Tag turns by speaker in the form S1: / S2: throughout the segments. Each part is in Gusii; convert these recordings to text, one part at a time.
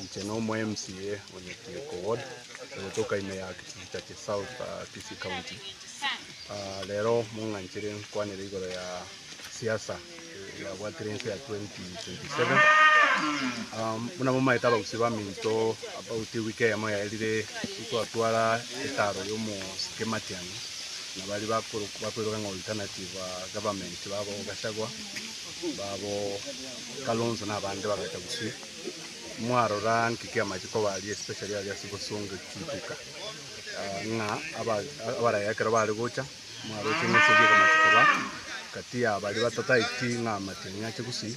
S1: Inche na omo MCA o Nyakioko ward togotoka ime ya Kichitachi South Kisii County. Rero mong'anchire nkwanere igoro ya siasa yabwatire ense ya 2027. Buna momaete abagusii baminto about ewiki eyemo yaerire nkwatwara etaro y'omosike Matiang'i na bari bakweroka ng'a alternative government babo Gachagua babo Kalonzo na abande bagacha gusii Mwarora nki ki'amachiko koba aria, especially aria ase obosongo ekiageka ng'a abaraya ekero bare gocha, mwaroche ng'a ase ekiageka amachiko koba kati ya baria batataeti ng'a matiang'i ache gusii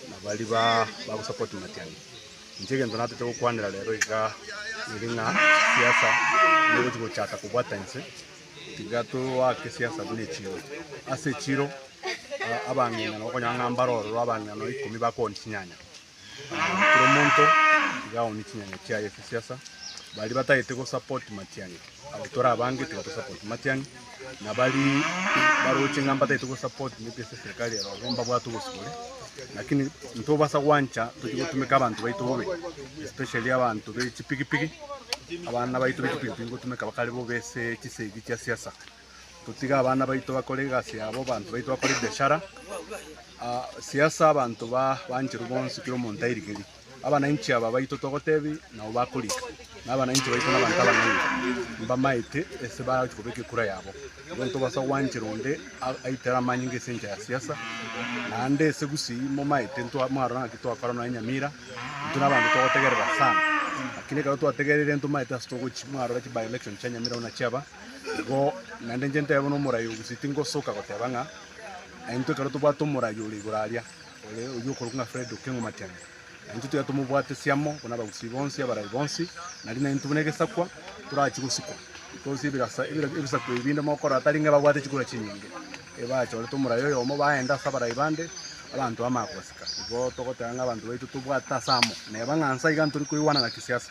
S1: na baria ba bagosupport matiang'i. Inche egento natete gokwanera rero igaa ere ng'a siasa nigochi gochaka kobwata inse, tiga toake siasa buna echiro. Ase echiro abang'ina nabo okonyora ng'a mbare ororo abang'ina nonya ikomi bakooni chinyanya. Kera omonto iga aoni chinyanya chiaye ase siasa, baria batagete go support Matiang'i, abo tore abange tiga to support Matiang'i, na baria baroche ng'a mbatagete go support maybe ase eserikari ero igo mbabwate obosibore, lakini ntobasa gwancha tochia gotumeka abanto baito bobe, especially abanto be chipigipigi, abana baito be chipigipigi ngotumeka bakare bobe ase chisegi chia siasa. totige abana baito bakore egasi yabo, abanto baito bakore ebiashara, ah, siasa abanto ba- bancherwe bonsi kera omonto airigerie. Abananchi aba baito togotebia nabo bakorika, na abananchi baito na abanto abang'aini mbamaete ase bagochi kobeka ekura yabo. Igo ntobasa gwanchera onde a- aitere amanyinga ase enchera ya siasa, naende ase gusii momaete ntwa- mwarora ng'aki twakora nonya Nyamira, intwe na abanto togotegerera sana, lakini ekero twategereire ntomaete ase togochia mwarora chi by-election chia Nyamira buna chiaba. Igo naende inche ntebe nomoraia o Gusii tingosoka goteba ng'a intwe ekero tobwate omoraia ore igoro aria, ore oyio okorokwa ng'a Fred Okengo Matiang'i, na intwe tiga tomobwatesie amo buna Abagusii bonsi abarai bonsi, nari na intwe buna egesakwa torachie gosikwa. Because ebirasa ebisakwa ebi binde mogokora tari ng'a ebabwate chikura chinyinge, ebachorete omoraia oyomo baenda ase abarai bande, abanto bamanya kobasika. Igo togoteba ng'a abanto baito tobwate ase amo, neba ng'a nsa iga ntori koigwanana kisiasa.